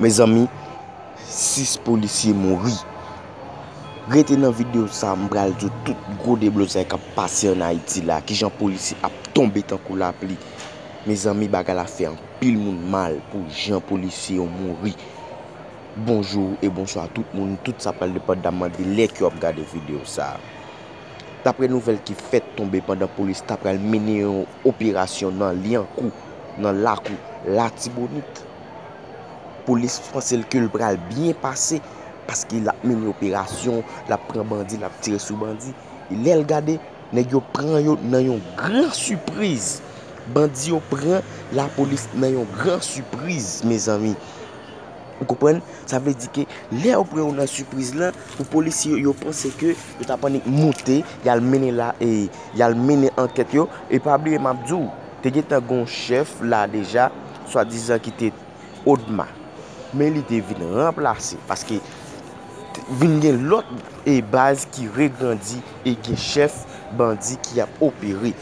Mezanmi 6 polisye mouri. Rete nan video sa m pral di w tout gwo deblozay k ap pase an Ayiti la, kijan polisye ap tonbe tankou lapli. Mezanmi bagay la fè anpil moun mal pou jan polisye yo mouri. Bonjou e bonswa tout moun, tout sa pral depandaman de lè ke w ap gade video sa. Daprè nouvèl ki fèt tonbe pandan polis ta pral mennen yon. operasyon nan Lyankou, nan lakou Latibonit. Polis franse l ke l pral byen pase paske l ap mennen operasyon, l ap pran bandi, l ap tire sou bandi. E lè l gade, nèg yo pran yo nan yon gran sipriz. Bandi yo pran lapolis nan yon gran sipriz, mezanmi. Ou konprann? Sa vle di ke lè yo pran ou nan sipriz lan, pou polisye yo, yo panse ke yo ta pannik moute, y al mennen la e y al mennen ankèt yo. E pa bliye m ap di w, te gentan gen yon chèf la deja, swadizan ki te Odma. Men li te vin ranplase paske vin gen lòt e baz ki regrandi e gen chèf bandi ki ap opere.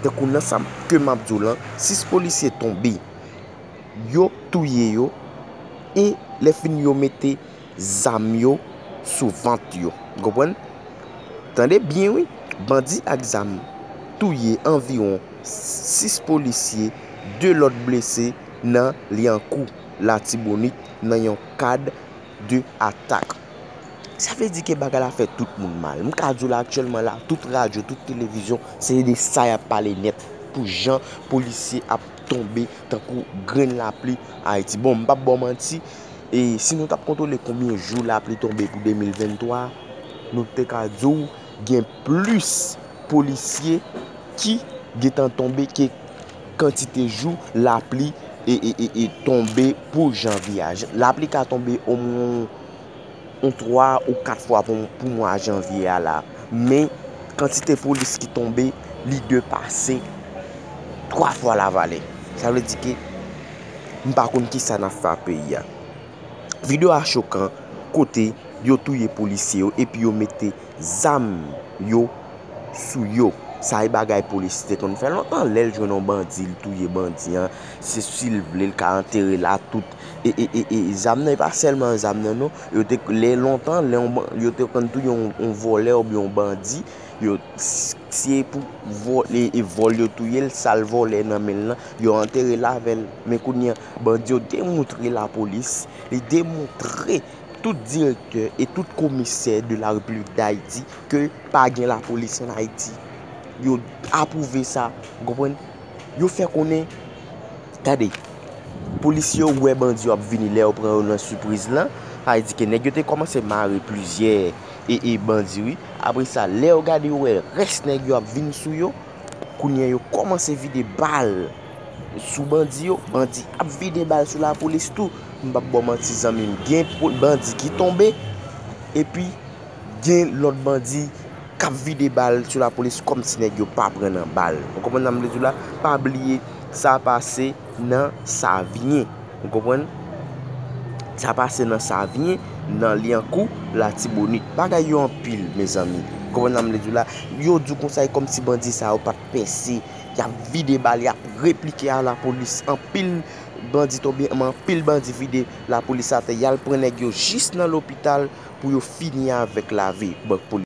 Tankou nan sa ke m ap di w lan, 6 polisye tonbe. Yo touye yo e lè fini yo mete zam yo sou vant yo. Ou konprann? Tande byen wi, bandi ak zam touye anviwon 6 polisye, 2 lòt blese nan Lyankou, Latibonit nan yon kad de atak. Sa vle di ke bagay la fè tout moun mal. M ka di w la aktyèlman la, tout radyo, tout televizyon se de sa y ap pale nèt pou jan polisye ap tonbe tankou grenn lapli Ayiti. Bon, m pap ba w manti, si nou t ap kontwole konbyen jou lapli tonbe pou 2023, nou te ka di w gen plis polisye ki gen tan tonbe ke kantite jou lapli tonbe pou janvye a. Lapli ka tonbe omwen. yon 3 ou 4 fwa pou mwa janvye a la, men kantite polis ki tonbe li depase 3 fwa Lavale. Sa vle di ke m pa konn ki sa n ap fè ak peyi a. Video a chokan kote yo touye polisye yo epi yo mete zam yo sou yo. Sa e bagay polisye te konn fè lontan. Lè l jwenn yon bandi, li touye bandi an. Se si l vle l ka antere l a tout. e zam nan e pa sèlman zam nan non, yo te lè lontan lè yo te konn touye yon vòlè oubyen yon bandi, yo se pou vòl yo touye l, sa l vòlè nan men l lan, yo antere l avè l. Men kounye an, bandi yo demoutre lapolis, li demoutre tout direktè e tout komisè de la Repiblik Dayiti ke pa gen lapolis an Ayiti. Yo apwouve sa, konprann? Yo fè konnen. Tande! Polisye yo wè bandi yo ap vini lè yo pran yo nan sipriz lan, sa vle di ke nèg yo te kòmanse mare plizyè e bandi wi, apre sa lè yo gade yo wè rès nèg yo ap vini sou yo, kounye an yo kòmanse vide bal sou bandi yo, bandi ap vide bal sou lapolis tou, m pap baw manti zanmim gen bandi ki tonbe epi. Gen lòt bandi kap vide bal sou la polis kòm si nèg yo pa pran nan bal. Ou konprann sa m vle di w la? Pa bliye sa pase nan Savyen. Ou konprann? Sa pase nan Savyen, nan Lyankou, Latibonit. Bagay yo anpil mezanmi. Ou konprann sa m vle di w la? Yo di w konsa e kòm si bandi sa yo pat pèse. Yap vide bal, yap replike a la polis anpil. Bandi tonbe m anpil bandi vide lapolis atè yal pran nèg yo jis nan lopital pou yo fini avèk lavi bank polis.